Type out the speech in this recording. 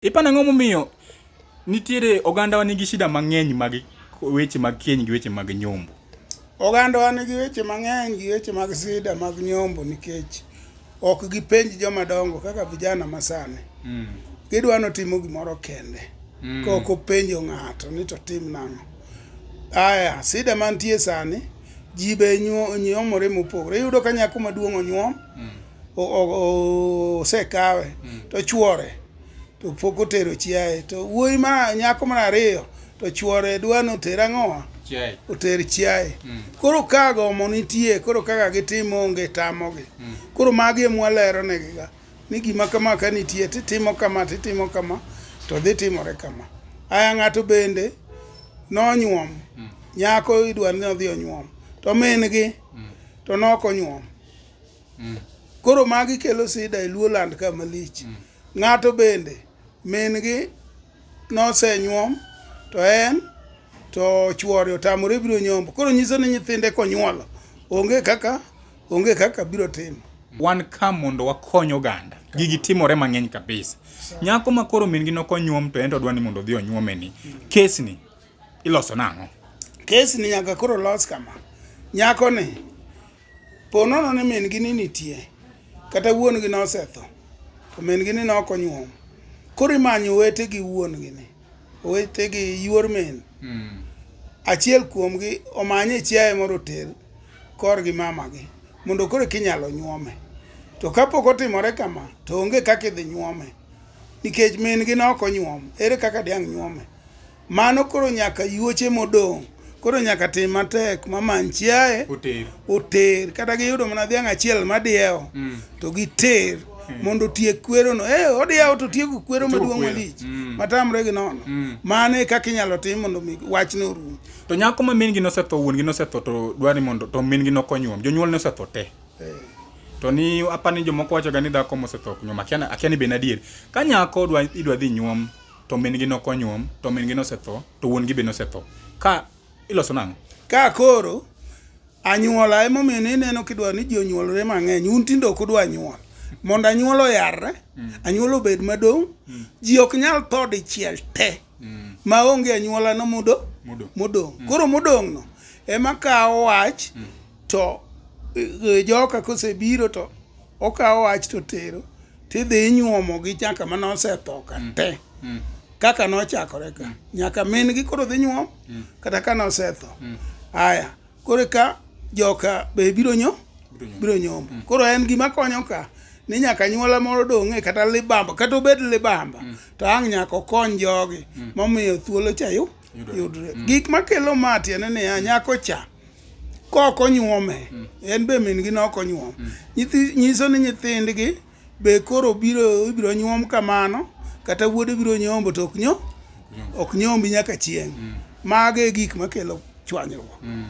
Ipano ang'o momiyo nitiere ogandawa nigi shida mang'eny mag weche mag keny gi weche mag nyombo? Ogandawa nigi weche mang'eny gi weche mag sida mag nyombo nikech ok gipenj joma dongo kaka vijana masani. Mm. Gidwa notimo gimoro kende. Mm. Kok openjo ng'ato ni to tim nang'o. Aya, sida mantie sani, ji be nyomore mopogore. Iyudo ka nyako maduong' onyuom. Mm. osekawe hmm. to chwore to pok otero chiaye to wuoyi ma nyako mar ariyo to chwore dwa ni oter ang'owa oter chiaye hmm. koro ka gomo nitie koro kaka gitimo onge tamogi hmm. koro magi emwalero negiga ni gima kama ka nitie titimo kama titimo kama to dhi timore kama aya ng'ato bende nonyuom nyako idwa ni odhi onyuom to min gi to nok onyuom mm. koro magi kelo sida e luo land ka malich mm. ng'ato bende min gi nosenyuom to en to chuore otamore biro nyombo koro nyiso ni nyithinde konyuolo onge kaka onge kaka biro timo wan ka mondo wakony oganda gigi timore mang'eny kabisa nyako ma koro min gi nokonyuom to en to dwa ni mondo odhi onyuome ni kesni iloso nang'o kesni nyaka koro los kama nyako ni Po nono ni min-gi ni nitie, kata wuon-gi nosetho, to min-gi ni ok onyuom. Koro imanyo owete gi wuon-gi ni, owete gi yuor min. Hmm. Achiel kuomgi omanye chiaye moro oter korgi mamagi, mondo koro kinyalo nyuome. To kapok otimore kama, to onge kaka idhi nyuome, nikech min-gi ne ok onyuom. Ere kaka diang' nyuome? Mano koro nyaka yuoche modong' koro nyaka tim matek mamany chiaye oter kata giyudo mana dhiang' achiel madiewo mm. to giter mm. mondo otiek kwerono e eh, odiyawo to tieko kwero maduong' malich mm. matamre gi nono mano e kaka inyalo tim mondo mi wachne orum to nyako ma min gi nosetho wuon gi nosetho to dwani mondo to min gi nokony wuon jonyuol nosetho te eh. to ni apani jomoko wachoga ni dhako mosetho nyuom akia ni be nadier ka nyako idwa dhi nyuom to min-gi ne ok onyuom, to min-gi nosetho, to wuon-gi be nosetho. Ka iloso nang'o? Ka koro anyuola emomiyo ne ineno kidwa ni ji onyuolre mang'eny, un tinde ok udwa nyuol. Mondo anyuola oyarre, anyuola obed madong', ji ok nyal tho dichiel te ma onge anyuolano modo, Modong'. modong'. Koro modong'no ema kawo wach to e, joka kosebiro to okawo wach to tero tidhi inyuomo gi chaka mane osetho ka mm. te mm. kaka nochakore ka mm. nyaka min gi koro dhi nyuom kata ka nosetho aya koro ka joka be biro nyo biro nyombo koro en gima konyo ka ni nyaka nyuola moro dong'e kata libamba kata obed libamba to ang' nyaka okony jogi momiyo thuolo cha yudre mm. gik makelo ma tiende niya nyako cha kok onyuome mm. en be min gi nok onyuom mm. nyiso ni nyithindgi be koro biro ibiro nyuom kamano kata wuode biro nyombo to ok nyo ok nyombi nyaka chieng' mm. mago e gik makelo chwanyruok mm.